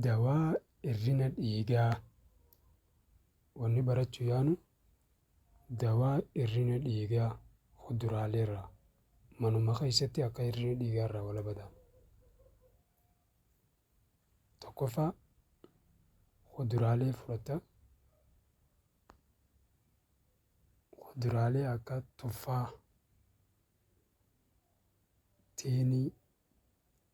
Dawaa hir'ina dhiigaa wanni barachuu yaanu dawaa hir'ina dhiigaa kuduraalee irraa manuma keessatti akka hir'ina dhiigaa irraa walaba ta'an. Tokkoffaa kuduraalee fudhatta. Kuduraalee akka tuffaa, tiinii.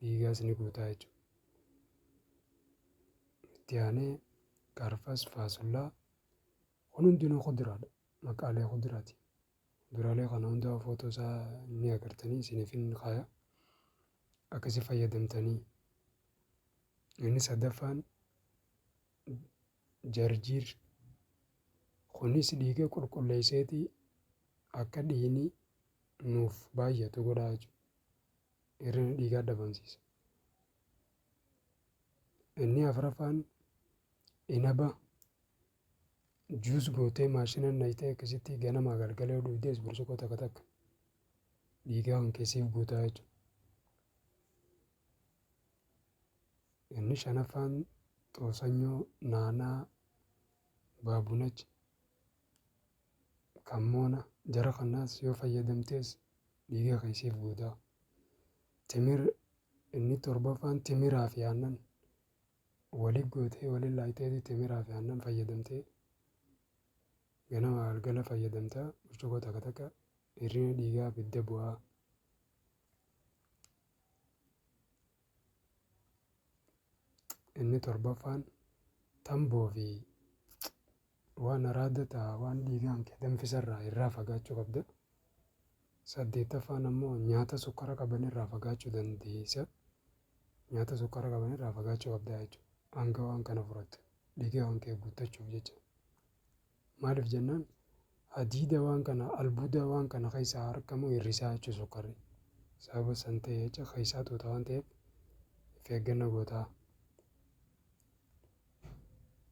dhiigaas ni guutaa jechuudha. Itti aanee qarfas, faasullaa kun hundinuu kuduraadha. Maqaalee kuduraati. Kuduraalee kana hundaa footoo isaa ni agartanii isiniif hin kaaya. Akkasi fayyadamtanii. Inni sadaffaan jarjiir kunis dhiiga qulqulleesseeti akka dhiini nuuf baay'atu godhaa jechuudha. Hir'ina dhiigaa dhabamsiisa. Inni afraffaan inaba juus gootee maashinan naqxee akkasitti ganamaa galgala yoo dhugdees burcuqqoo takka takka dhiigaa kan keessee guutaa jechuudha. Inni shanaffaan xoosanyoo, naanaa, baabunachi Kan moona jara kanaas yoo fayyadamtees dhiiga kee siif guuta. Timir inni torbaffaan timiraa fi aannan wali gootee wali laayiteeti timiraa fi aannan fayyadamtee ganama galgala fayyadamta burcuqoo takka takka hirrina dhiigaa bidda bu'aa. Inni torbaffaan tamboo fi Waan araada ta waan dhiigaan kee danfisarraa irraa fagaachuu qabda. 8ffaan ammoo nyaata sukkara qabanirraa fagaachuu dandeessa. Nyaata sukkara qabanirraa fagaachuu qabda jechuudha. Hanga waan kana furattu dhiigaan kee guuttachuuf jecha. Maaliif jennaan hadiida waan kana albuuda waan kana keessaa argamu hir'isaa jechuudha sukkarri. Sababa san ta'e jecha keessaa tuuta waan ta'eef of eegganna gootaa.